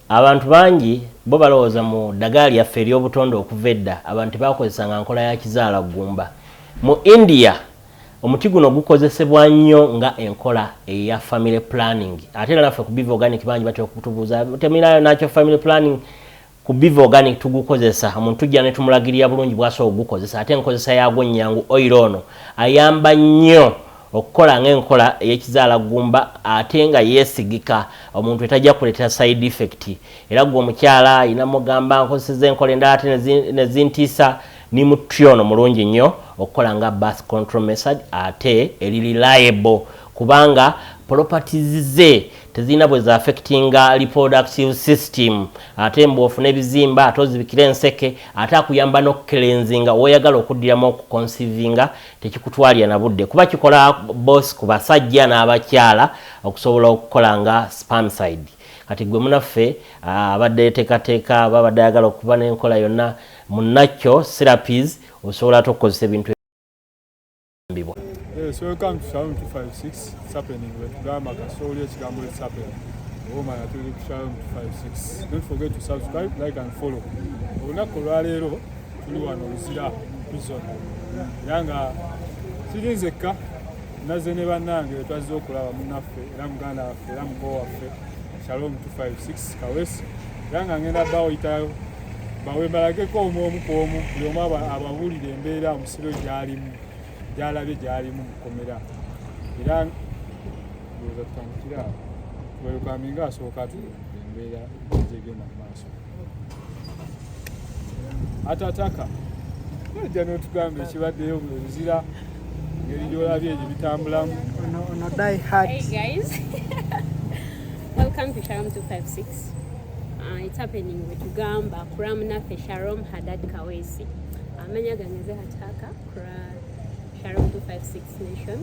Abantu bangi bo balowooza mu ddagaala lyaffe ery'obutonde okuva edda abantu tebaakozesanga nkola ya kizaala ggumba. Mu India, omuti guno gukozesebwa nnyo nga enkola eya family planning. Ate era naffe ku Biva Organic bangi batera okutubuuza temulinayo nakyo family planning. Ku Biva Organic tugukozesa, omuntu tujja ne tumulagirira bulungi bw'asobola okugukozesa ate enkozesa yaagwo nnyangu. Oil ono ayamba nnyo okukola ng'enkola ey'ekizaala ggumba ate nga yeesigika omuntu etajja kuleetera side effect era gwe omukyala alina mugamba nkozeseza enkola endala ate ne zintiisa ni mutri ono mulungi nnyo okukola nga birth control method ate eri reliable kubanga properties ze tezirina bwe zaaffectinga reproductive system ate mbu ofuna ebizimba ate ozibikira enseke ate akuyamba n'okukelenzinga woyagala okuddiramu okukonsivinga tekikutwalira na budde kuba kikola boss ku basajja n'abakyala okusobola okukola nga spamside kati gwe munaffe ah, abadde teekateeka babadde ayagala okuba n'enkola yonna munnakyo serapis osobola ate okukozesa ebintu ebibwa eh, So welcome to Shalom 256. It's happening. We're to Gama, Kasoli, Chigambo, it's happening. Woman, I told you to Shalom 256. Don't forget to subscribe, like, and follow. We're not going to tuli wano luzira prison era nga siri nzekka naze ne bannange twazze okulaba munaffe era muganda waffe era muko waffe shalom 256 kawesi era nga ngenda bawoyitayo bawe balageko omu omu ku omu buli omu abawulire embeera omusiro gyalimu gyalabye gyalimu mukomera era ndowooza tutandikira awo bwerukaminga asooka atuula embeera gyegenda mumaaso atataka ojja n'otugamba ekibaddeyo mu nzira ngeri gyolabye egyo bitambulamu ono die hard hey guys welcome to sharom 256 uh, it's happening wetugamba kuram naffe sharom hadad kawesi amanya uh, gange ze hataka kura sharom 256 nation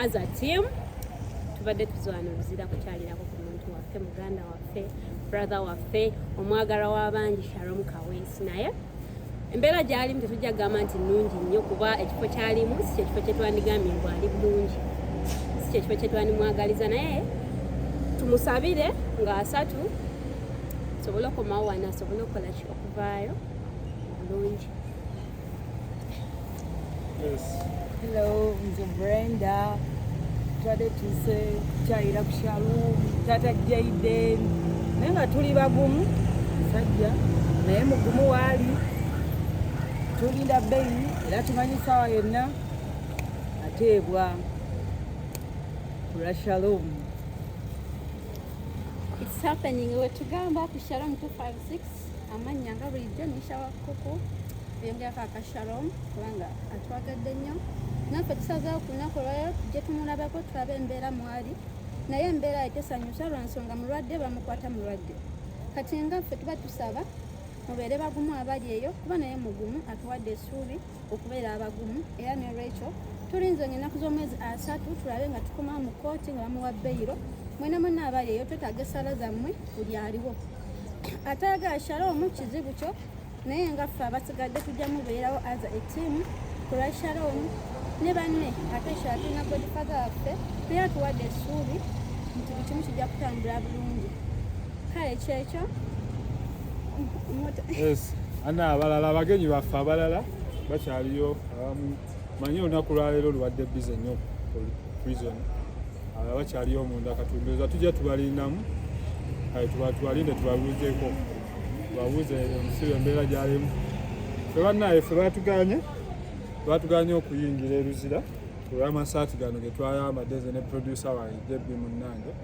as a team tubadde tuzwana oluzira kukyalirako ku muntu waffe muganda waffe brother waffe omwagala w'abangi Sharom Kaweesi naye embeera gyalimu tetujja kugamba nti nnungi nnyo kuba ekifo kyalimu si kyekifo kyetwandigambye ngu ali bulungi si kyekifo kyetwandimwagaliza naye tumusabire nga asatu sobole okomawo wano asobole okukola ki okuvaayo bulungi Yes. Hello, nze Brenda. Twade tuse kyayira ku Shalom, tata Jaden. Naye nga tuli bagumu sajja naye mugumu waali tulinda bbeyi era tumanyi saawa yonna ateebwa kulwa Shalom. It's happening wetugamba ku Shalom 256 amannya nga bulijjo nishawa kuku byengerako akashalom kubanga atwagadde nnyo naffe tusazeewo ku lunaku olwalero tujje tumulabako tulabe embeera mwali naye embeera etesanyusa lwa nsonga mulwadde bamukwata mulwadde kati nga ffe tuba tusaba mubeere bagumu abali eyo kuba naye mugumu atuwadde esuubi okubeera abagumu era nolwekyo tulinze nga ennaku z'omwezi asatu tulabe nga tukomawo mu kooti nga bamuwa beyiro mwena mwena abali eyo twetaaga esaala zammwe buli aliwo atayagala shaloomu kizibu kyo naye nga ffe abasigadde tujja mubeerawo aza etiimu kulwa shaloomu ne banne ate shala tulina godifadha waffe naye atuwadde essuubi nti buli kimu kijja kutambula bulungi kale kyekyo ana abalala abagenyi baffe abalala bakyaliyo abamu manyi olunaku lwaleero lubadde bize nnyo prison abalala bakyaliyo omunda katunduza tujja tubalindamu tubalinde tubabuuzeko tubabuuze omusibe embeera gyalimu fe bannaye fe batuganye batuganye okuyingira eruzira olw'amasaati gano getwayambadde ze ne producer wange jebbi munnange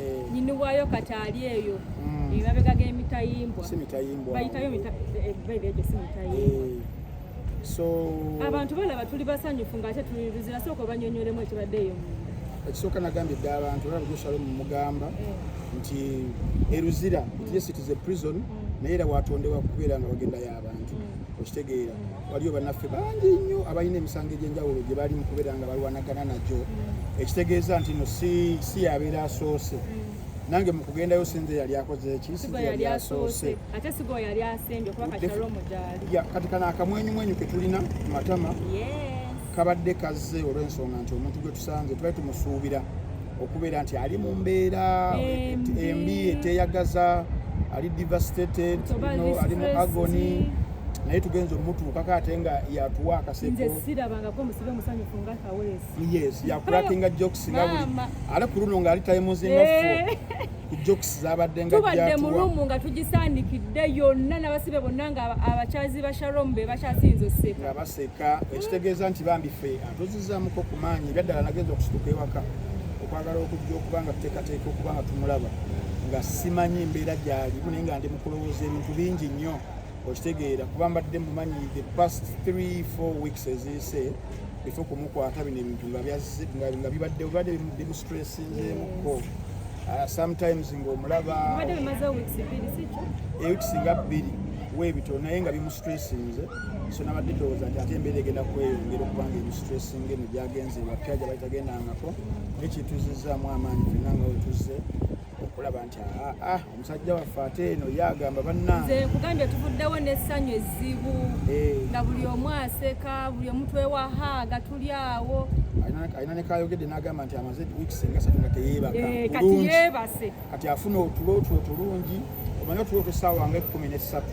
eh. nyini wayo kataali eyo mm. emabega g'emitayimbwa bayitayo ebeereegyo si mitayimbwa eh, so abantu balaba tuli basanyufu ng'ate tuli luzira sooka obanyonyolemu ekibadde eyo ekisooka nagambye dda abantu olaba joshalo mumugamba eh. nti eruzira nti yes it is a prison mm. naye era watondewa kubeera nga bagenda y'abantu mm. okitegeera waliyo bannaffe bangi nnyo abalina emisango egy'enjawulo gye bali mu kubeera nga balwanagana nagyo mm. ekitegeeza nti no si yabeera asoose mm. nange mukugendayo sinze yali akoze ki yali asoose ate sigo yali asembye kuba kati kano akamwenyumwenyu ketulina matama yeah. kabadde kazze olw'ensonga nti omuntu gwe tusanze tubali tumusuubira okubeera nti ali mu mbeera embi eteyagaza ali devastated ali mu agony naye tugenze omutuukako ate nga yatuwa akasekoyes yakulakinga jokes nga buli ale ku luno ng'ali tayimuzinga fo eh. tubadde mu ruumu nga tugisandikidde yonna nabasibe bonna nga abakyazi ba sharom be bakyasinza oseka baseka ekitegeeza nti bambi fe atuzizamuko ku maanyi ebyaddala nagenza okusituka ewaka okwagala okujja okuba nga tuteekateeka okuba nga tumulaba nga simanyi embeera gyalimu naye nga ndi mukulowooza ebintu bingi nnyo okitegeera kuba mbadde mumanyi the past 3 4 weeks eziyise efe kumukwata bino ebintu nga byazze nga bibadde bibadde bimustressingyemuko ah, sometimes ng'omulaba eweeks nga bbiri webito naye nga bimustressinze so nabadde ndowooza nti ate embeera egenda kweyongera okubanga ebistressinga eno gyagenze wapya gyabaitagendangako nekituzizaamu amaanyi fenna nga wetuzze okulaba nti ah, ah, ah, omusajja waffe ate eno ye agamba bannanze nkugambye tuvuddewo n'essanyu ezzibu eh. nga buli omu aseka buli omu twewahaaga tuli awo alina nekayogedde n'agamba nti amaze wiiki singa satu nga teyeebakakati eh, yeebase kati afuna otulo twe otulungi omanye otulo otwesaawa nga ekkumi n'essatu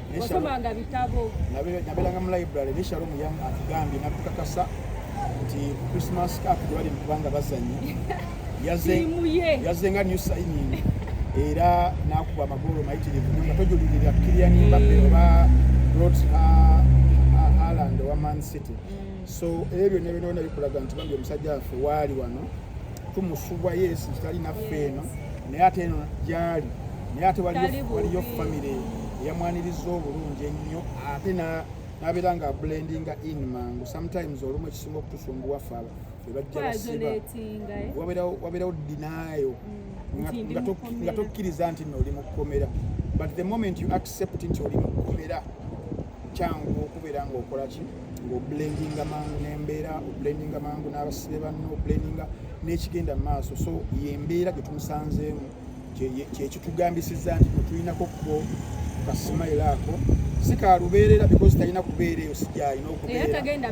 osomanga bitabo nabeeranga mu library ne shalom yang atugambye natukakasa nti christmas cap tewali mukubanga bazanyi yaze nga new signing era nakuba amagolo mayitirivu nga tojulirira kilian mbape mm. oba rot haland owa man city mm. so ebyo nebinona bikulaga nti bambi omusajja waffe waali wano tumusubwa yesu kitali naffe eno naye ate eno gyali naye ate waliyo famire eyamwaniriza obulungi ennyo ate nabeera nga blendinga in mangu sometimes olumu ekisinga okutusumbuwa faba ebajja basiba wabeerawo dinayo mm. nga tokkiriza nti no oli mukukomera but the moment you accept nti oli mukukomera kyangu okubeera ngaokolaki ng'obulendinga mangu n'embeera obulendinga mangu n'abasibe banno obulendinga n'ekigenda mu maaso so yembeera gye tumusanzeemu kyekitugambisiza nti tulinako ko kasimayiro ako si ka lubeerera because talina kubeera eyo sigyalina okubeeraalina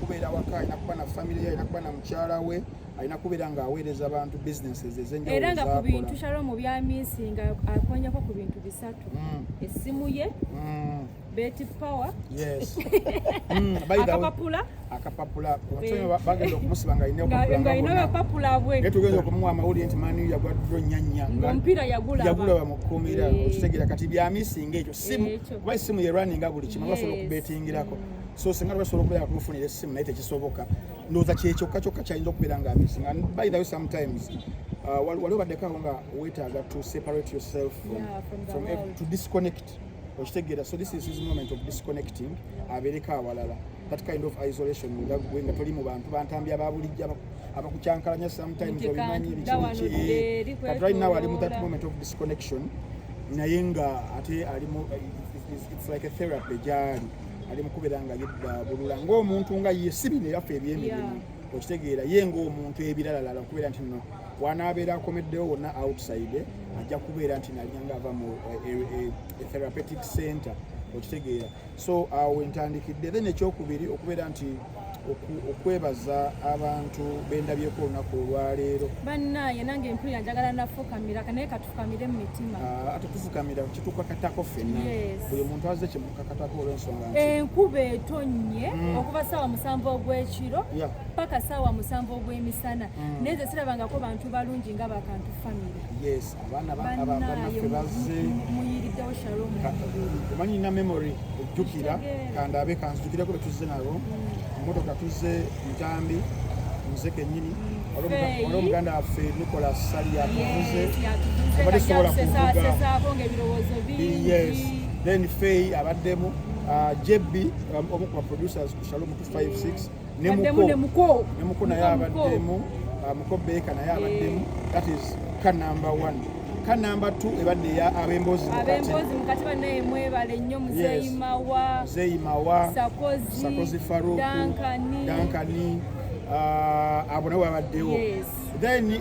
kubeera waka alina kuba na famire ye alina kuba na mukyala we alina kubeera nga aweereza abantu businesses ezenjawulo era nga ku bintu shalomu bya minsi nga akonyako ku bintu bisatu mm. essimu ye mm. beti power yes mm, akapapula akapapula bagenda okumusiba nga alina akapapula bwe naye tugenda okumuwa amawulire nti mani yagwa dro nyanya omupiira yagulaba mu kkomera eh. okitegeera kati bya minsi nga ekyo simu kuba essimu ye running nga buli kimu basobola okubetingirako so singa lwebasobola okubeera nga tumufunira essimu naye tekisoboka ndoza kyekyo kacho kachayinza okubeera nga missing and by the way sometimes uh, wali obaddeko awo nga weetaaga to separate yourself from, yeah, from, from every, to disconnect okitegeera so this is his moment of disconnecting yeah. abeereko awalala that kind of isolation nga gwe nga toli mu bantu bantambi ababulijja abakucankalanya sometimes obimanyi bikinki but right now ali mu that moment of disconnection naye nga ate alimu it's like a therapy gyali ali mukubera nga yedabulula ng'omuntu nga ye si bino ebaffe ebyemirimu okitegeera ye ng'omuntu ebiralalala okubeera nti no wanaabeera akomeddewo wonna outside ajja kubeera nti nalinga ava mu eh, eh, eh, e therapeutic center okitegeera so awo entandikidde then ekyokubiri okubeera nti okwebaza abantu bendabyeko olunaku olwaleero banaye nange empulira njagala nafukamira naye katufukamire mu mitima ah, ate tufukamira kitukakatako fenna buli muntu azze kimukakatako olwensonga enkuba etonnye mm. okuva saawa musanvu ogwekiro paka saawa musanvu ogwemisana mm. naye ze sirabangako bantu balungi nga bakantu famire omanyi nina memory ojjukira kandabe kanzijukirako betuzze nabo mm. motoka tuzze ntambi nze kenyini wali omuganda waffe nikola sali yatuvuze obadde sobola kuvugaes then fey abaddemu uh, jebbi um, omu ku baproducers ku shalom 256 ne muko ne muko ne muko naye abaddemu uh, muko beeka naye abaddemu eh. that is ka number one ka number two ebadde ya abembozi abembozi mukati banaye mwebale nnyo muzeyi mawa muzeyi mawa sakozi sakozi faruku dankani dankani uh, abo nabo babaddewo yes. then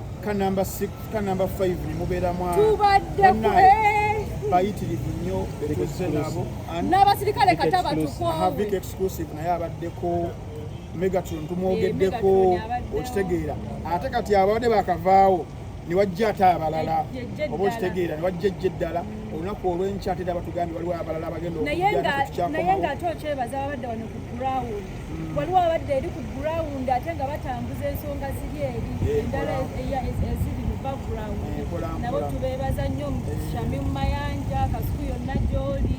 ka number 6 ka number 5 ni mubera mwa tubadde eh. bayitirivu nnyo tuzze nabo n'abasirikale kata batukoavik exclusive naye abaddeko megatron tumwogeddeko eh, okitegeera ate kati ababadde bakavaawo newajja ate abalala oba okitegeera newajja ejja eddala olunaku olwenkya ate era batugambye waliwo abalala abagenda okujja naye nga ate okyebaza ababadde wano ku ground waliwo abadde eri ku ground ate nga batambuza ensonga ziri eri endala eziri mu background nabo tubeebaza nnyo shami mu mayanja kasuku yonna gyoli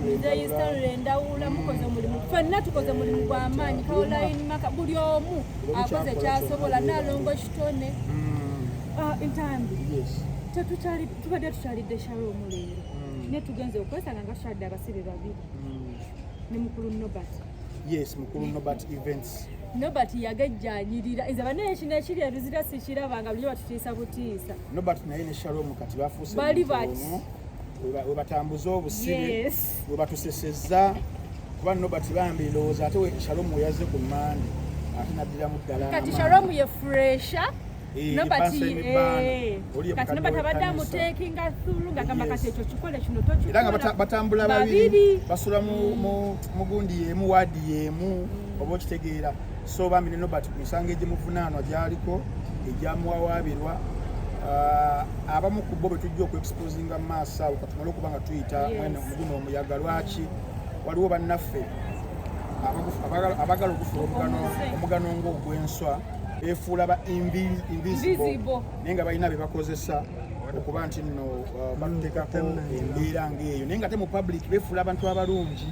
muzeyi stanley ndawula mukoze omulimu fenna tukoze mulimu gwa maanyi kaoline maka buli omu akoze kyasobola nalongo kitone mm. ah, entambi tubadde tukyalidde shalo omuleero mm. naye tugenze okwesanga nga tukyalidde abasibe babiri mm. ne mukulu Nobert yes mukulu Nobert events Nobert yagejjanyirira nze banaye ekino ekiri eruzira sikiraba nga bulijo batutiisa butiisa Nobert naye ne Shalom kati bafuuse bali bati webatambuza obusibe webatusesezza kuba Nobert bambi ndowooza ate Shalom weyazze ku mande ate naddiramu ddala kati Shalom ye fresha Eh, no but eh kati no but abadamu taking us through nga kama kati ekyo kikole kino to kikole era nga batambula babiri basula mu mu gundi yemu wadi yemu mm. obo kitegeera so bambi no but misange je mufunano jaliko ejamu wawabirwa uh, abamu ku bo betujja oku exposing mass awo katumalo kuba nga tuyita mwene muguno omuyaga lwaki waliwo banaffe abagala okufuna omugano omugano ng'ogw'enswa efuula ba invisible naye nga balina bebakozesa okuba nti nno uh, batutekako embeera ngaeyo naye nga te mu public befuula abantu abalungi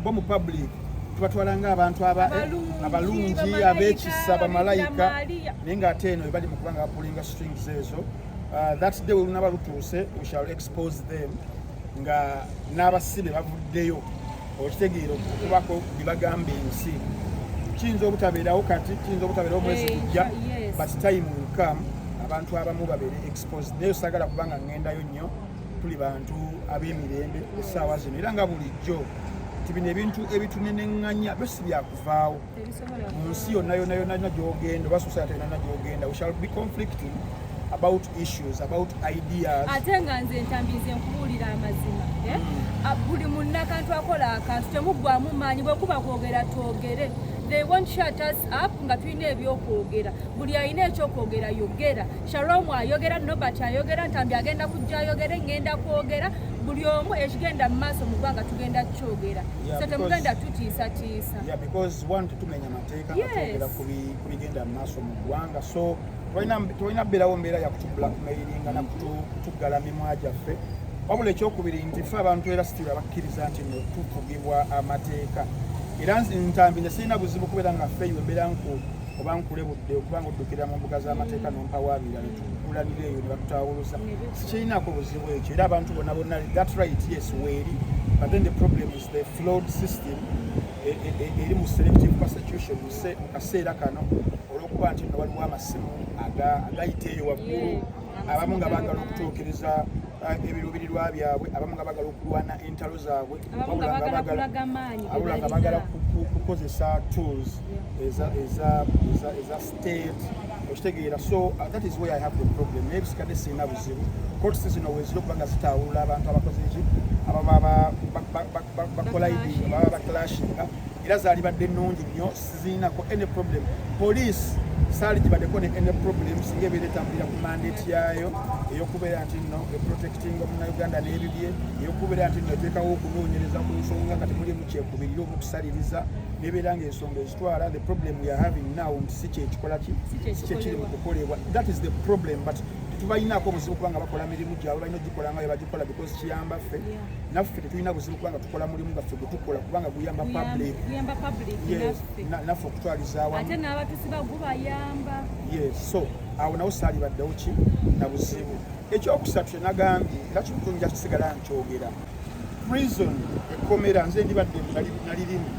bo mu public tubatwala nga abantu abalungi abekisa bamalayika naye nga ate eno ebali mukuba nga bapulinga strings ezo uh, that day welunaba lutuuse we shall expose them nga n'abasibe bavuddeyo okitegeera okubako byebagamba ensi kiyinza obutabeerawo kati kiyinza obutabeerawo mwezi gujja but time will come abantu abamu babeere exposed naye osagala kubanga ngendayo nnyo tuli bantu ab'emirembe essaawa zino era nga bulijjo nti bino ebintu ebituneneŋŋanya byo si byakuvaawo mu nsi yonna yonna yonna yonna gy'ogenda oba society yonna yonna gy'ogenda we shall be conflicting about issues about ideas ate nga nze ntambize nkubuulira amazima eh? mm. ah, buli munnakantu akola akantu temuggwamu maanyi bwekuba kwogera twogere they won't shut us up nga tulina ebyokwogera buli alina ekyokwogera yogera shalom ayogera nobert ayogera ntambi agenda kujja ayogere ngenda kwogera buli omu ekigenda mu maaso mu ggwanga tugenda kukyogera so temugenda tutiisatiisa Yeah, because one tetumenya mateeka nga twogera ku bigenda mu maaso mu ggwanga so tolina berawo mbeera yakutu blackmailinga nakutuggala mimwa gyaffe wabula ekyokubiri nti fe abantu era sitiri abakkiriza nti no tufugibwa amateeka era ntambi ne sirina buzibu kubeera nga fe embeera nku oba nkulebudde okuba nga oddukira mu mbuga z'amateeka nompawaabira netukulanira eyo nebatutawuluza sikirinako buzibu ekyo era abantu bona bonna that right yes weeri but then the problem is The flawed system e, e, e, eri mu selective persecution mu kaseera kano olw'okuba nti nga waliwo amasimu agayita eyo waggulu abamu nga baagala okutuukiriza uh, ebiruubirirwa byabwe abamu nga baagala okulwana entalo zaabwe abula nga baagala kukozesa tools eza okitegeera so uh, that is where i have the problem naye bisikadde sirina buzibu kotisi zino wezira okuba nga zitaawulula abantu abakoze ki ababa bakolaidinga baba baclashinga era zaalibadde nnungi nnyo sizirinako any problem police saali gibadeko ne any problem singa ebeera etambulira ku mandate yaayo eyokubeera nti nno eprotecting omunauganda n'ebibye eyokubeera nti nno eteekawo okunoonyereza ku nsonga nga temulimu kyekubirira omukusaliriza nebeera nga ensonga twala the problem we are having now nti si kyekikola ki si kyekiri mu kukolebwa that is the problem but tetubalinaako buzibu kubanga bakola mirimu gyabwe balina ogikola nga bebagikola because kiyamba ffe naffe tetulina buzibu kubanga tukola mulimu gaffe gwetukola kubanga guyamba public naffe okutwalizawaate n'abatusi bagubayamba yes so awo nawo saali baddewo ki na buzibu ekyokusatu kyenagambye era kimutunja kisigala nkyogera prison ekkomera nze ndibadde nalirimu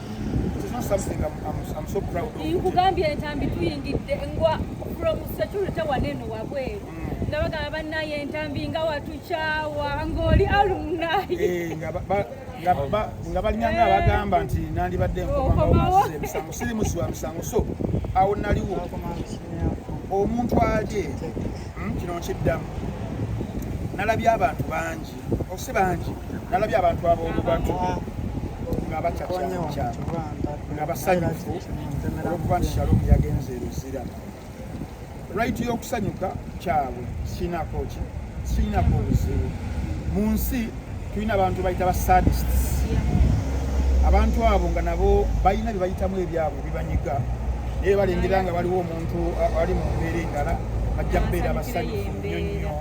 nkugambye entambi tuyingidde ngwa from security waneno wabweru mm. nabagamba banaye entambi nga watukyawa ngaoli alumnaye eh, nga balinanga eh. abagamba nti nandibadde nkomaomusango siri musi wa misango so awo naliwo omuntu aje hmm, kino nkiddamu nalabye abantu bangi osi bangi nalabye abantu ab'obubatu nga bacacamucamu nga basanyufu olwokuba nti shalomu yagenze eruzira rayiti y'okusanyuka kyabwe sirinako ki sirinako obuzibu mu nsi tulina abantu bayita ba sadists abantu abo nga nabo balina bye bayitamu ebyabwe bibanyiga naye balengera nga waliwo omuntu ali mu mbeera endala bajja kubeera basanyufu nnyo nnyo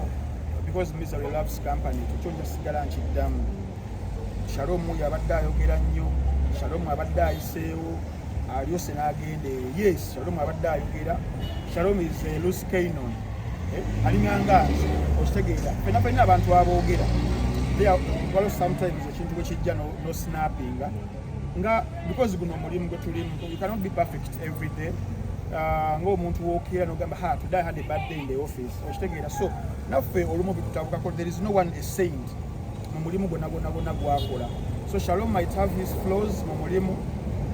because misery loves company kikyo nja sigala nkiddamu shalomu yabadde ayogera nnyo shalomu abadde ayiseewo alyose n'agenda eyo yes shalomu abadde ayogera shalomu is a loose canon eh, alinganga nze okitegeera fena fena abantu aboogera waliwo sometimes ekintu bwe kijja no snappinga nga because guno omulimu gwe tulimu you cannot be perfect every day uh, ng'omuntu wookeera nogamba ha today i had a bad day in the office okitegeera so naffe olumu bitutabukako there is no one a saint mu mulimu gwonna gwonna gwonna gwakola so shalom might have his flaws mu mulimu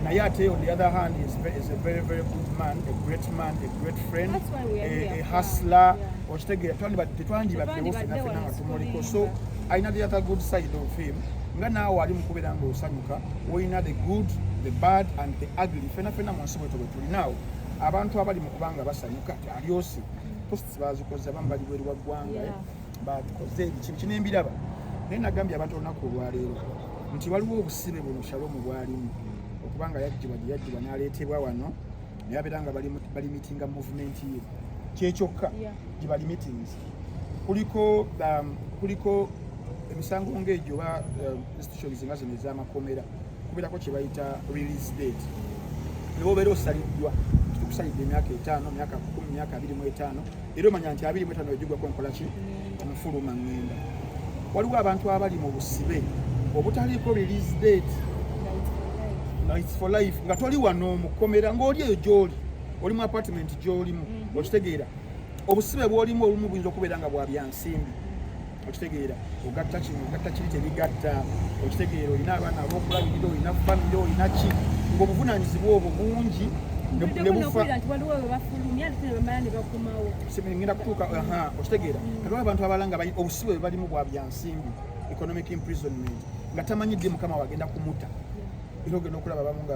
naye ate on the other hand is, is a very very good man a great man a great friend a, a hustler okitegeera tetwandibaddewo fenafena nga tumuliko so alina the other good side of him nga naawe ali mukubeera nga osanyuka olina the good the bad and the ugly fenafena mu nsi bwetyo bwetulinaawo abantu abali mu kubanga basanyuka alyosi posts bazikoze abamu bali bweru wa ggwanga eh? bakoze ebikibi kino embiraba naye nagambye abantu olunaku olwaleero nti waliwo obusibe buno shalomu bwalimu okubanga yajjibwa gye yajjibwa n'aleetebwa wano naye abeera nga balimitinga muvumenti ye kyekyokka gye balimitings kuliko um, kuliko emisango ng'egyo oba um, institutions nga zino ez'amakomera kubeerako kye bayita release date ne bobeera osaliddwa tukusalidde emyaka etaano myaka kumi myaka abiri mu etaano era omanya nti abiri mu etaano egigwako nkola ki omufuluma ngenda waliwo abantu abali mu busibe obutaliiko release date nights for life nga toli wano mukomera ng'oli eyo gyoli oli mu apartment gyolimu mhm. okitegeera obusibe bwolimu olumu buyinza okubeera nga bwa byansimbi okitegeera ogatta kino ogatta kiri tebigatta okitegeera olina abaana abokulabirira olina famire olina ki ngaobuvunaanyizibwa obwo bungi ngenda kutuuka okitegeera mm. kaliwo abantu abala nga obusibe bwe balimu bwa byansimbi economic imprisonment nga tamanyi ddi mukama wagenda kumuta era ogenda okulaba abamu nga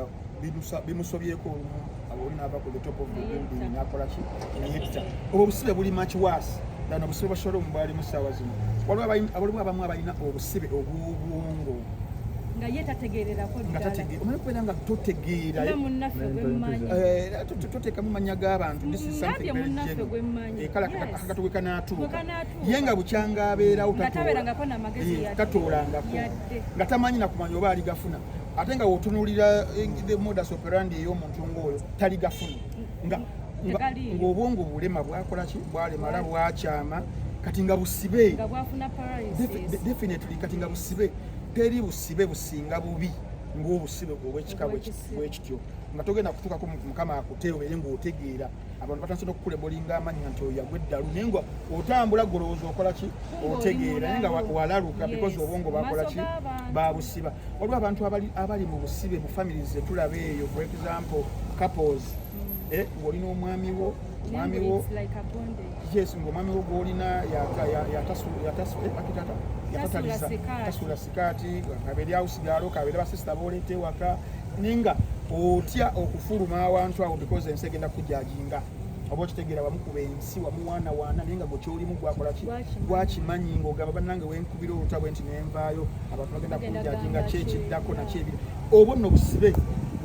bimusobyeko olumu oli naava ku the top of the building nakolaki neyetta obwo obusibe buli much worse than obusibe bwashola omu bwalimu saawa zino waliwo abamu abalina obusibe obw'obwongo nga ye tategeererako omanyi kubeera nga totegeera toteekamu mannya g'abantu akatwe kanaatuuka ye nga bukyanga abeerawo tatoolangako nga tamanyi nakumanya oba aligafuna ate nga wotunulira eh, the modus operandi ey'omuntu ng'oyo tali gafuni nga ng'obwongo bulema bwakola ki bwalemala bwakyama kati nga busibe definitely kati nga busibe teri busibe businga bubi ng'obusibe obwekika bwekityo nga togenda kutuukako mukama akuteewo ere ng'otegeera abantu batandise nokukulebolinga amanya nti oyo yagwa eddalu naye nga otambula golowooza okola ki otegeera naye nga walaluka because obwongo bakola ki babusiba waliwo abantu abali mu busibe mu families zetulaba eyo for example couples mm. eh, ng'oli n'omwami wo omwami wo yes ng'omwami wo gw'olina yatasula eh, akitata yatatalisa kati kabeere house girl kabeere basista boleeta ewaka ninga otya okufuluma awantu awo because ensi egenda kujajinga oba okitegeera wamukuba ensi wamuwaana waana naye nga gwekyolimu gwakolaki gwakimanyi ngaogamba banange wenkubira oluta bwe nti nenvaayo abantu bagenda kunjajinga kyekiddako nakyebiri obwo nno busibe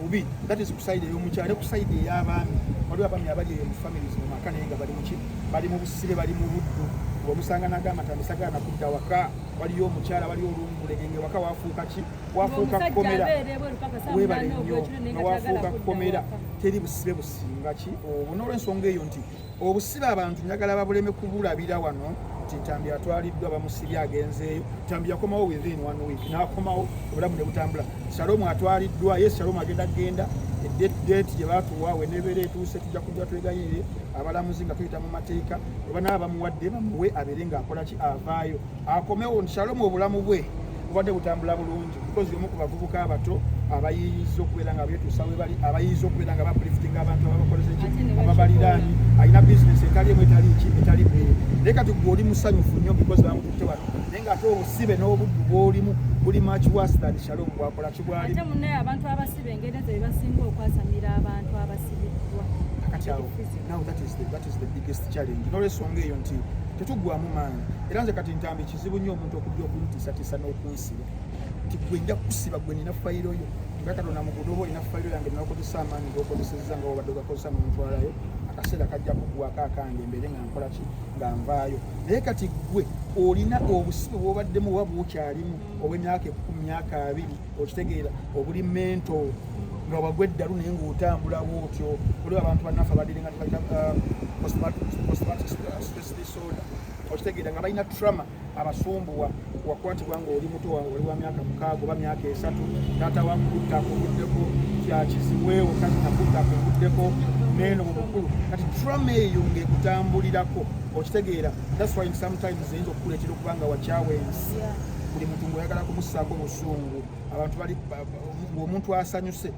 bubi that is kusaidi eyomukyalo ne kusaidi eyabaami waliwo abaami abali eyo mu families mu maka naye nga bali muki bali mu busibe bali mu buddu ngaomusanga nagamba tandisagala nakudda waka waliyo omukyala waliyo olungulege nga waka wafuuka ki wafuuka kkomera webale nnyo nga wafuuka kkomera teri busibe businga ki obwo n'olwensonga eyo nti obusibe abantu njagala babuleme kubulabira wano nti ntambi atwaliddwa bamusibye agenzeeyo ntambi yakomawo within one week n'akomawo obulamu ne butambula salomu atwaliddwa ye salomu agenda genda edeeti gye batuwa wenebeera etuuse tujja kujja twegayirire abalamuzi nga tuyita mu mateeka obanaba bamuwadde bamuwe abeere ng'akola ki avaayo akomewo nshalomu obulamu bwe bubadde butambula bulungi because yomu ku bavubuka abato abayinza okubeera nga betuusa we bali abayinza okubeera nga bapliftinga abantu ababakoleza ki ababaliraani alina bizinesi etali emu etali ki etali bbeere naye kati gwe oli musanyufu nnyo because bamututte wano naye nga ate obusibe n'obuddu bwolimu buli much worse than shalom bwakola kibwali ate munnaye abantu abasibe engeri ezo bebasinga okwasamira abantu abasibidwa kati awo now that is the nolwensonga eyo nti tetugwamu maanyi era nze kati ntambi kizibu nnyo omuntu okujja okuntiisatiisa n'okunsiba nti gwe nja kusiba gwe nina fayiro yo nga katonda mugudo oba olina fayiro yange nakozesa amaanyi gokozeseza nga wabadde ogakozesa nomutwalayo akaseera kajja kugwako akange mbeere nga nkola ki nga nvaayo naye kati gwe olina obusibe bwobaddemu oba bwokyalimu obwemyaka ekumi myaka abiri okitegeera obuli mento nga wagwa eddalu naye ngaotambulawo otyo oli abantu bannaffe abadire nga tebalina postmatdisorder uh, okitegeera nga balina trama abasumbuwa wakwatibwa nga oli muto wange oli wa myaka mukaaga oba myaka esatu taata wakutta akuvuddeko kyakiziweewo kati nakutta akuvuddeko neeno mu bukulu kati trama eyo ngaekutambulirako okitegeera that's why sometimes eyinza okukuleetera okuba nga wakyawa ensi buli muntu ngaoyagala kumusaako zungu abantu bali ng'omuntu asanyuse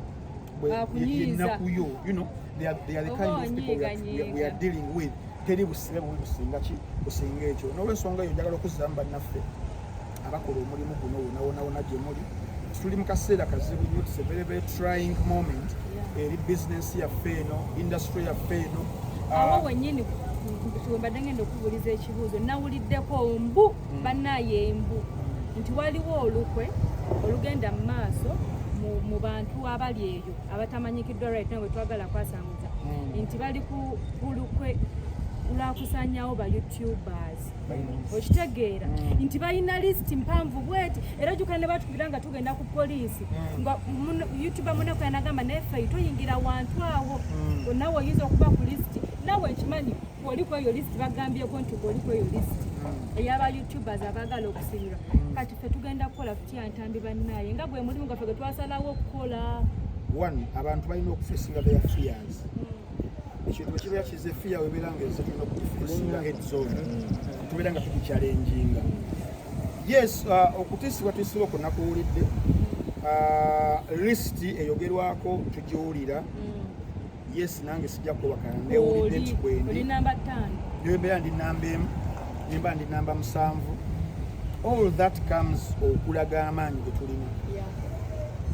yennaku yo you know they are, they are the kind of people we are, we are, we are dealing with teri busibe bubi businga ki businga ekyo n'olwensonga eyo njagala okuzzamu bannaffe abakola omulimu guno wonawonawona gye muli tuli mu kaseera kazibu nyo it's a very very trying moment eri business yaffe eno industry yaffe eno awo ah, wenyini wembadde ngenda okubuuliza ekibuuzo nawuliddeko mbu bannaye embu nti waliwo olukwe olugenda mu maaso mu bantu abali eyo abatamanyikiddwa right now wetwagala kwasanguza hmm. nti bali ku lukwe lwakusanyawo ba youtubers okitegeera hmm. nti balina list mpanvu bweti era jukana ne batukubira nga tugenda ku poliisi hmm. nga youtuber muneko yanagamba naye fe toyingira wantu awo nawe oyinza okuba ku list nawe nkimanyi oli ku eyo list bagambyeko nti oli ku eyo list hmm. eyaba youtubers abagala okusinyira hmm. kati fe tugenda kukola kutya ntambi bannaye nga gwe mulimu gaffe gwetwasalawo okukola one abantu balina okufesinga their fears hmm. ekintu ekibeera kize fiya webeera nga eze tulina okukifesinga head zone tubeera nga tukikyalenjinga yes uh, okutisibwa tusiba okunakuwulidde uh, lisiti eyogerwako tugiwulira yes nange sijja kwewakana newulidde nti kwendi newembeera ndi namba emu nemba ndi namba musanvu all that comes okulaga amaanyi getulina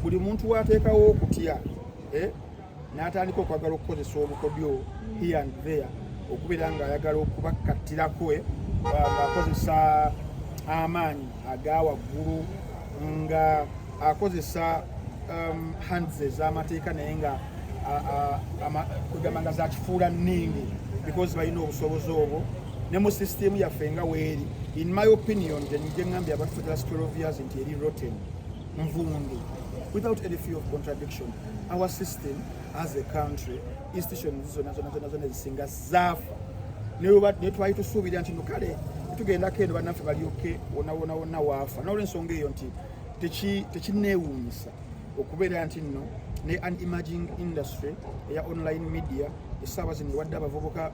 buli muntu wateekawo okutya eh, n'atandika okwagala okukozesa obukodyo mm. here and there okubeera ng'ayagala okubakattirako eh, ng'akozesa amaanyi aga waggulu nga akozesa um, hands ez'amateeka naye nga kwegamba nga zakifuula nningi because balina obusobozi obwo ne mu system yaffe nga weeri in my opinion gyeŋambye abantu for the last 12 years nti eri rotten nvundu without any fear of contradiction our system as a country institution zona zona zona zona ezisinga zaafa naye twali tusuubira nti no kale tugendako eno bannaffe balyoke wonawona wonna waafa nolwensonga eyo nti tekineewuunyisa okubeera nti nno ne an emerging industry eya online media essaawa zino ewadde abavubuka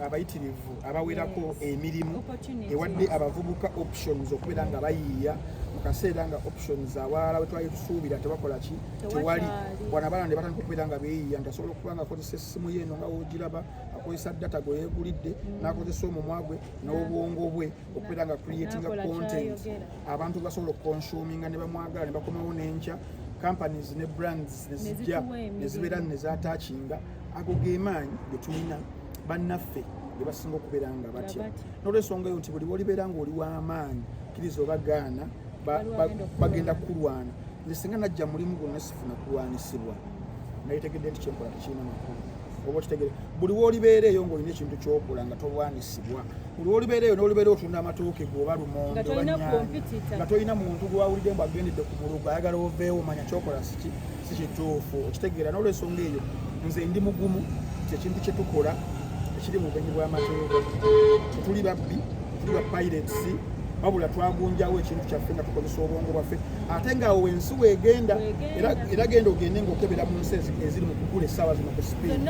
abayitirivu abawerako emirimu ewadde abavubuka options okubeera nga bayiiya mu kaseera nga options awalala wetwali tusuubira tebakola ki tewali wana abaana ne batandika okubeera nga beeyiya nti asobola okuba nga akozesa essimu ye eno nga wogiraba akozesa data gwe yeegulidde mm. n'akozesa omumwa gwe n'obwongo bwe okubeera nga creatinga content abantu basobola okukonsuminga ne bamwagala ne bakomawo n'enkya companies ne brands nezijja nezibeera nezatakinga ago gemaanyi getulina bannaffe be basinga okubeera nga batya n'olwensonga eyo nti buli bolibeera nga oli w'amaanyi kkiriza oba gaana bagenda kukulwana nze singa najja mulimu gwonna sifuna kulwanisibwa naye tegedde nti kyenkola tekirina makulu oba okitegere buli wolibeera eyo ngaolina ekintu kyokola nga tolwanisibwa buli wolibeera eyo nolibeera otunda amatooke goba lumonde nga tolina muntu gwawulidde mbu agendedde ku mulugu ayagala oveewo manya kyokola siki si kituufu okitegeera n'olwensonga eyo nze ndi mugumu kyekintu kye tukola ekiri mu bumenyi bw'amateeka tetuli babbi tetuli ba pirates wabula twagunjawo ekintu kyaffe nga tukozesa obwongo bwaffe ate ngaawo wensi weegenda era genda ogende ngaokebera mu nsi eziri mu kugula essaawa zino ku sipiidi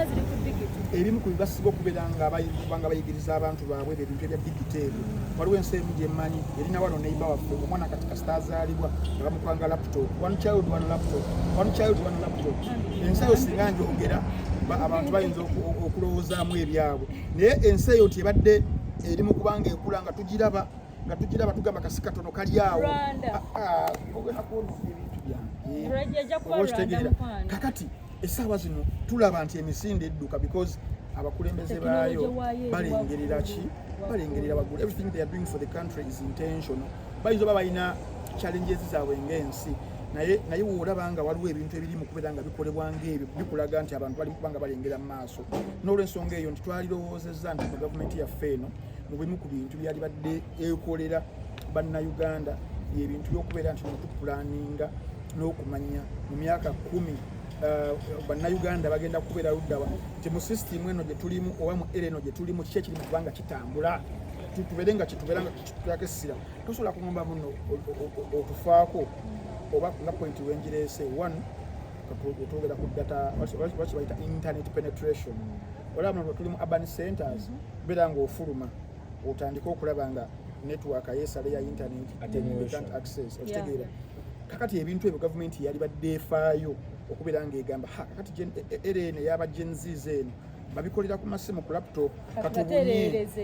ebimu ku bibasiba okubeera ngabanga bayigiriza abantu baabwe ebintu ebya digiteeri waliwo ensi emu gyemanyi erina wano neiba waffe omwana katika azaalibwa nga bamupanga laptop one child one laptop one child one laptop ensi eyo singa njogera abantu bayinza okulowoozaamu ebyabwe naye ensi eyo nti ebadde eri mu kubanga ekula nga tugiraba nga tugiraba tugamba kasi katono kali awo ah, ah, ogenda kuona ebintu byange kakati essaawa zino tulaba nti emisinde edduka because abakulembeze baayo balengerera ki balengerera bagula everything they are doing for the country is intentional bayinza oba balina challenges zaabwe ng'ensi naye naye woolaba nga waliwo ebintu ebiri mu kubeera nga bikolebwa ng'ebyo bikulaga nti abantu bali kubanga balengera mu maaso n'olwensonga eyo nti twalirowoozezza nti mu gavumenti yaffe eno mu bimu ku bintu byali badde ekolera bannayuganda yebintu byokubeera nti nokupulaninga n'okumanya mu myaka kumi Eh, bannayuganda bagenda kubeera luddawa nti mu sisitimu eno gye tulimu oba mu era eno gye tulimu kiki ekiri mu kubanga kitambula tubeere nga kitubeera tulako essira tosobola kugamba muno otufaako oba nga point wenjireese one twogera ku data lwaki bayita internet penetration olaba muno tuli mu urban centers mm-hmm. beera ngaofuluma otandike okulaba nga network yesale ya internet atenant access okitegeera kakati ebintu ebyo gavumenti yalibadde efaayo okubeera ngaegamba kakati rn e, e, eyaba genz eno babikolera ku masimu ku laptop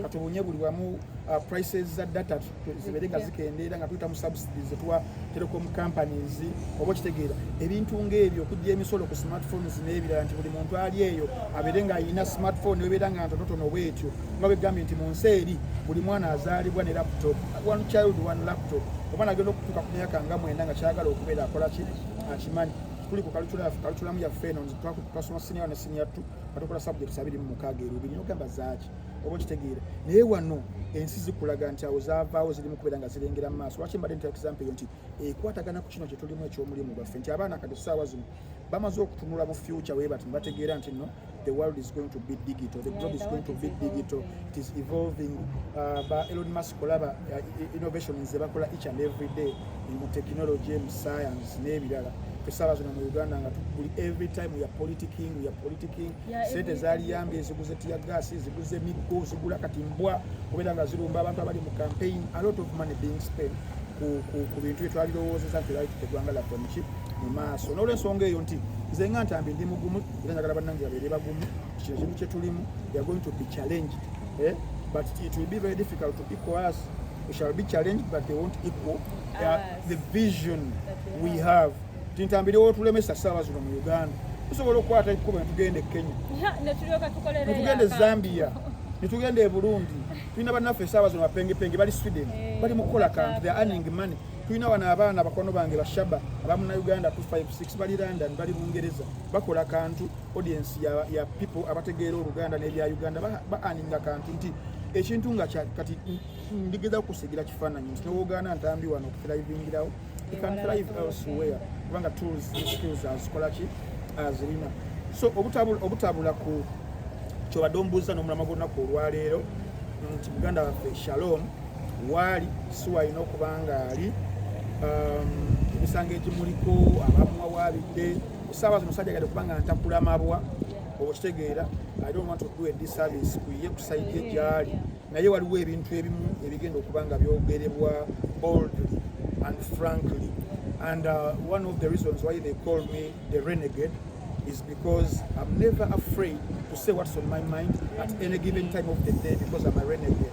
katubunye buli wamu uh, prices za data zibere nga zikendeera nga tuyita mu subsidies etuwa telecom companies oba okitegeera ebintu ngaebyo okujja emisolo ku smartphones n'ebirala nti buli muntu ali eyo abeere nga alina smartphone ebeera nga ntonotono bwetyo nga begambye nti mu nsi eri buli mwana azaalibwa ne laptop one child one laptop oba nagenda okutuuka ku myaka nga mwenda nga kyagala okubeera akola ki akimanyi tuli ku kalutulamu yaffe eno twasoma sinior sinyattu batokola subjects abiri mu mukaaga erubiri nogamba zaaki oba okitegeera naye wano ensi zikulaga nti awo zavaawo zirimu kubeera nga zirengera mu maaso lwaki mbadde nta example eyo nti ekwatagana ku kino kyetulimu ekyomulimu gwaffe nti abaana kati ssaawa zino bamaze okutunula mu future webati nebategeera nti no the world is going to be digital the globe is going to be digital It is evolving uh, ba Elon Musk olaba uh, innovation ze bakola each and every day in technology and science n'ebirala tusaba zino mu Uganda nga tukuli every time we are politicking we are politicking yeah, sente zaliyambye eziguze tia gas eziguze miggo zigula kati mbwa kubera nga zirumba abantu abali mu campaign a lot of money being spent ku ku ku bintu byetwalirowoozeza nti lali tutegwanga laffe muki mu maaso n'olwensonga eyo nti nze nga ntambi ndi mugumu era njagala bannange babeere bagumu kino kimu kyetulimu they are going to be challenged eh? but it will be very difficult to equal us we shall be challenged but they won't equal uh, the vision we have tintambirewo otulemesa saawa zino mu uganda tusobola okukwata ekkubo netugenda e kenya netugenda e zambia netugenda e burundi tulina bannaffe esaawa zino bapengepenge bali sweden eh, bali mukukola kantu the earning money tulina wano abaana bakwano bange bashaba abamunauganda 256 bali london bali bungereza bakola kantu audience ya, ya people abategeera oluganda n'ebya uganda baaninga ba kantu nti ekintu nga kati ndigeza kusigira kifaananyi nti nowogaana ntambi wano okuthrivingirawo ican thrive elsewhere kubanga tools skills azikola ki azirina so obutabula, obutabula ku kyobadde omubuuza n'omulama gw'olunaku olwaleero nti muganda waffe shalom waali siwalina okuba ngaali um, emisango egimuliko abamuwawaabidde kusaba musajja gade kubanga ntakula mabwa okitegeera i don't want to do a disservice kuye kusaidia gyali naye waliwo ebintu ebimu ebigenda okuba nga byogerebwa boldly and frankly and uh, one of the reasons why they call me the renegade is because i'm never afraid to say what's on my mind at any given time of the day because i'm a renegade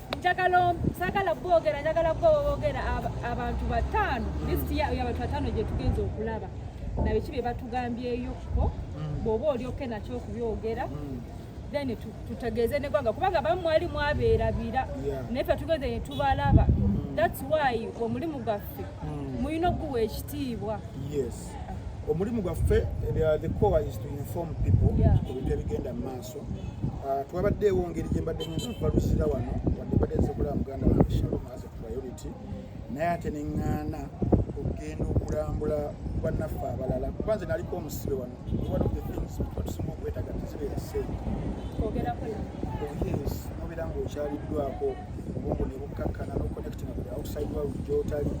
njagala sagala bogera njagala bogera abantu batano hmm. list ya abantu batano gye tugenze okulaba nabe kibe batugambyeyo ko hmm. bwoba oli oke nakyo okubyogera hmm. then tutegeeze negwanga kubanga bamu mwali mwabeerabira naye fe tugenze netubalaba thats why omulimu gwaffe mulina okuguwa ekitiibwa omulimu gwaffe eh, the core is to inform people ku bintu ebigenda mu maaso maaso ah, twabaddeewo ngeri gye mbadde nyinza okubaluzira wano wadde mbadde nsobola muganda wange shalom as a priority naye ate ne ŋŋaana okugenda okulambula bannaffe abalala kuba nze naliko omusibe wano one of the things atusinga okwetaga tizibeera sente yes nobeera ng'okyaliddwako obwongo ne bukkakkana noconnecting with the outside world gyotali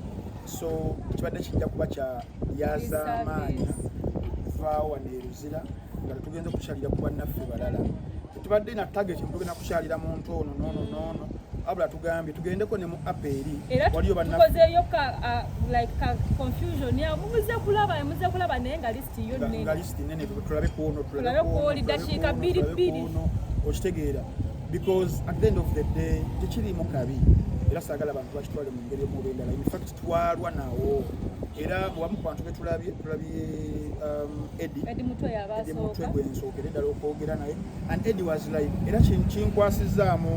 so kibadde kijja kuba kya yazaamaanya vaawa neruzira nga tetugenze kukyalira ku bannaffe balala tetubadde na target tugenda kukyalira muntu ono noono noono abula tugambye tugendeko ne mu app eri waliyo bannatukozeeyo ka uh, like ka confusion ya muze kulaba muze kulaba naye nga list yo nene nga list nene tulabe kuono tulabe kuoli dakiika bbiri bbiri okitegeera because at the end of the day tekirimu kabi era saagala abantu bakitwale mu ngeri omuba endala in fact twalwa nawo era wamu kubantu betulabye tulabye um, edi mutwe gwensookere ddala okwogera naye and edi was like era kinkwasizaamu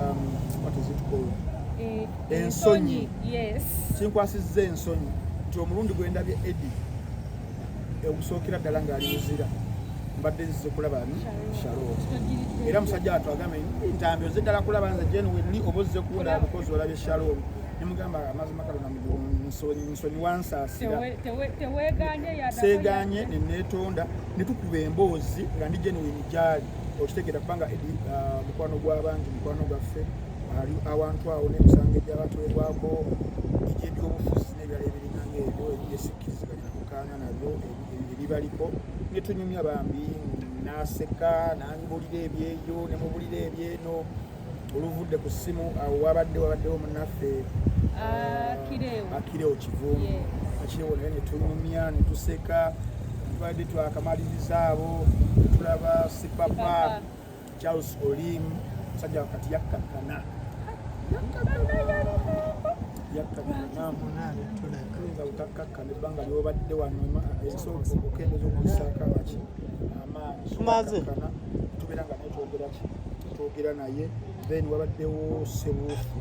um, what is it called eh, ensonyi kinkwasizza ensonyi nti omulundi gwendabye edi okusookera ddala ng'ali muzira mbadde nzize kulaba ni shalot era musajja watu agambe ntambi ozze ddala kulaba nze jenwelli oba ozze kuwera bikozi olabye shalom nemugamba amazima kalona nsonyiwa nsaasira seeganye neneetonda netukuba emboozi nga ndi genuwini gyali okitegeera kubanga edi uh, mukwano gw'abangi mukwano gwaffe ali awantu awo n'emisango egy'abatwebwako egy'ebyobufuzi n'ebirala ebiringanga ebyo ebyesikkirizibwa nakukaana nabyo ebibaliko netunyumya bambi naseka nangibulira ebyeyo nemubulira ebyeno oluvudde ku ssimu awo wabadde wabaddewo munaffe akirewo kivungu akirewo naye netulumya netuseka tubadde twakamaliriza abo tulaba sipapa charles olim musajja wakati yakkakkana yakkakkanaoyinza butakkakkana ebbanga lyobadde wano esobola okukendeza okusaako abaki amaanyi tubeera nga netwogeraki twogera naye then wabaddewo sebuufu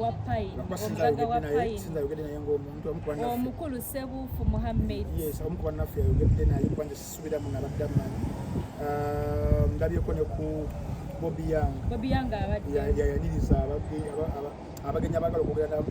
wapayinisinzayogedde naye ngaomuntu omukulu sebuufu muhammed yes omu kubannaffe yayogedde naye kubanja sisubiramu nabadde amanyi ah, ndabyeko ne ku bobi yang bobi yang abayaniriza abagenyi abagala okwogera nabo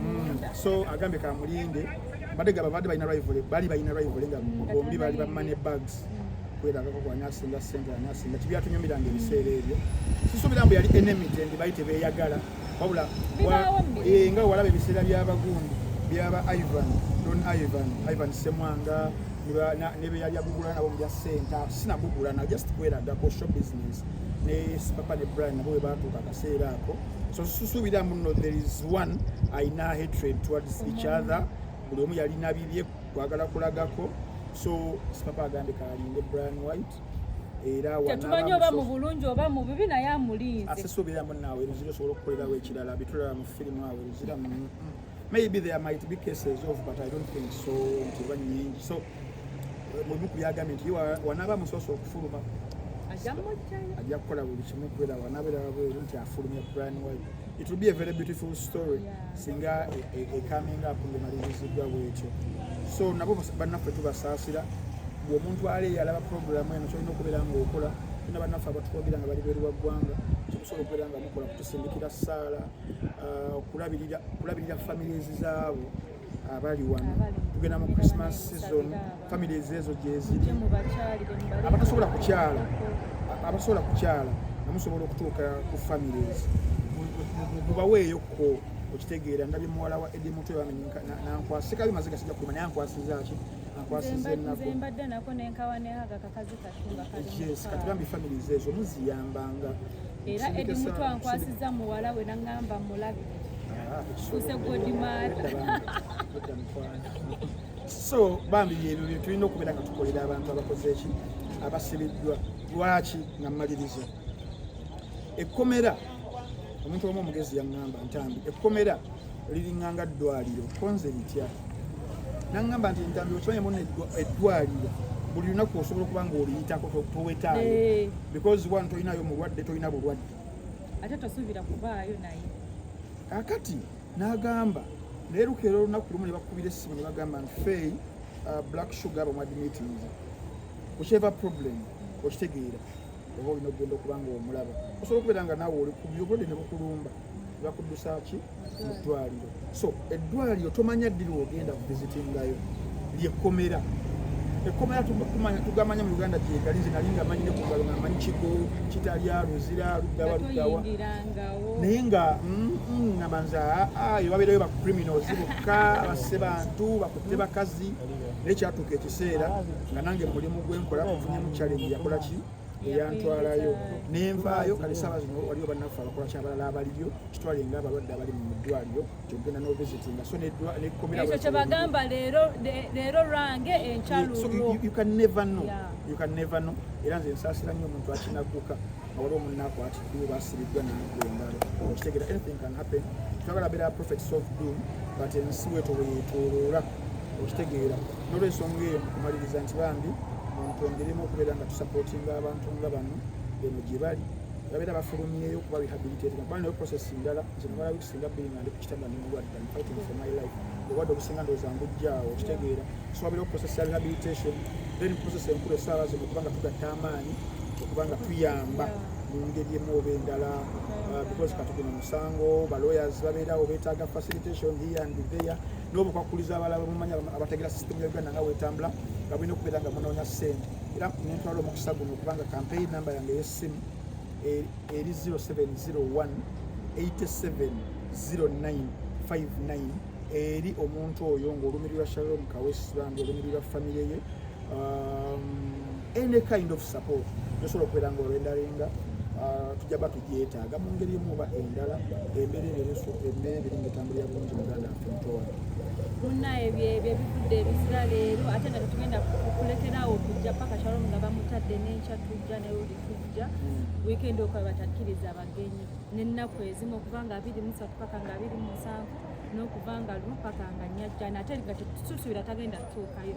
Mm. so agambe kamulinde bade gaba bade balina rival bali balina rival nga bombi bali ba money bags kwelagako kwani asinga sente ani asinga tibyatunyumiranga ebiseera ebyo sisuubira mbu yali enemy tendi bali tebeyagala wabula eh, nga walaba ebiseera byabagundi byaba ivan don ivan ivan semwanga nebeyali agugula nabo mu bya sente sinagugula na just kwelagako show business ne sipapa ne brian nabo bwe baatuuka akaseera ako so susuubira muno there is one alina hatred towards each other buli omu yalina bibye kwagala kulagako so sipapa agambe kalinde brian white era tetumanyi oba mu bulungi oba mu bibi naye amulinze asesuubira munaawe luzira osobola okukolerawo ekirala bitulaba mu firimu awe luzira mu mm, mm. Maybe there might be cases of but I don't think so nti ba nyingi so eh, mubuku yagambye nti wanaba musoso okufuluma ajja kukola buli kimu kubera wanabera wabweru nti afulumya plan way it will be a very beautiful story singa e, e, e coming up ngemalirizidwa bwekyo so nabo bannaffe tubasaasira bwomuntu ale yalaba programu eno kyolina okubeera ngaokola tuna bannaffe abatukwogera nga bali beeru wa ggwanga kyokusobola okubeera nga mukola kutusindikira saala uh, okulabirira kulabirira families zaabo abali wano tugenda mu christmas season families ezo gyeziri abatasobola kukyala abasobola kukyala namusobola okutuuka ku families mubaweeyo ko okitegeera ndabye muwala wa edi mutwe nankwasikabi maziga sija kulima naye ankwasizaaki ankwasiza ennaku era edi muto ankwasiza muwala we nangamba mulabi kuse godimara so bambi byebyo byetulina okubeera nga tukolera abantu abakoze eki abasibiddwa lwaki nga mmaliriza ekkomera omuntu omu omugezi yaŋŋamba ntambi ekkomera liringa nga ddwaliro konze bitya nangamba nti ntambi okimanyi muna eddwaliro buli lunaku osobola okuba nga oliyitako towetaayo eh. because one tolinayo mulwadde tolina bulwadde ate tosuubira kubaayo naye kakati nagamba naye lukeera olunaku lumu ne bakubira essimu ne bagamba nti fey uh, black sugar bamuadmitinze kukyeva problem okitegeera oba olina okugenda okuba nga omulaba osobola okubeera nga naawe oli kubyo obulwadde ne bukulumba bakuddusa ki mu ddwaliro so eddwaliro tomanya ddiri wogenda kuvizitingayo lyekkomera ekkomera tukumanya tugamanya mu uganda gyegali nze nali nga manyi ne ku ngalo nga manyi kigo kitalya luzira luddawa luddawa naye nga mm, mm, ngamba nze aa ah, ah, ebabeerayo ba criminals bokka basse bantu bakutte bakazi naye kyatuuka ekiseera nga nange mulimu gwenkola ofunyemu challenge yakola ki eyantwalayo nenvaayo kale saaba zino waliwo bannaffe abakola kyabalala abaliyo kitwale nga abalwadde abali mu ddwaliro kyogenda n'ovisitinga so nekkomeraekyo kyebagamba leero lwange enkyalulwoyoucanevano era nze nsaasira nnyo omuntu akinaguka awali omunaku atiddwa basiriddwa nemiggo engalo okitegera anything can happen twagala beera prophet soft doom but ensi wetoweyetoloola okitegeera nolwensonga eyo mukumaliriza nti bambi muntongeremu okubeera nga tusapotinga abantu nga bano eno gyebali babeera bafulumyeyo kuba rehabilitating kuba nayo process ndala nze namala wiiki singa bbiri nga ndi ku kitanda ndi mulwadde am fighting for my life obwadde obusinga ndowooza ngujjaawo okitegeera so wabeera process ya rehabilitation then process enkulu esaala zino okuba nga tugatta amaanyi okuba nga tuyamba mu ngeri emu oba endala uh, because kati guno musango balawyers babeerawo betaaga facilitation here and there n'obukwakkulizo abalala bamumanya abategera sisitemu ya uganda nga wetambula nga bulina okubeera nga munoonya ssente era nentwala omukisa guno okubanga kampeyini namba yange ey'essimu e- eri 0701 870959 eri omuntu oyo ng'olumirirwa shalom kawesibanga olumirirwa famiry ye um, any kind of support gyosobola okubeera nga orendarenga uh, tujja ba tugyetaaga mu ngeri emu oba endala embeera ebyo ebisu embeera ebiri nga etambulira bulungi muganda affe mutowa munna ebyo ebyo ebivudde ebisira leero ate nga tetugenda kukulekerawo okujja paka shalom nga bamutadde n'enkya tujja ne luli tujja hmm. wiikendi okuba batakkiriza abagenyi n'ennaku ezimu okuva nga abiri musatu paka nga abiri musanvu n'okuva nga lumu paka nga nyajjana ate nga tetusuubira tagenda kutuukayo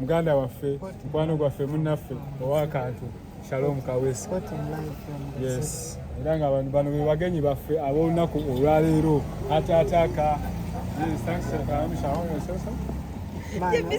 muganda waffe mukwano gwaffe munnaffe owakantu shalom kawesi yes era nga abantu bano bebagenyi baffe ab'olunaku olwaleero ataataaka yes,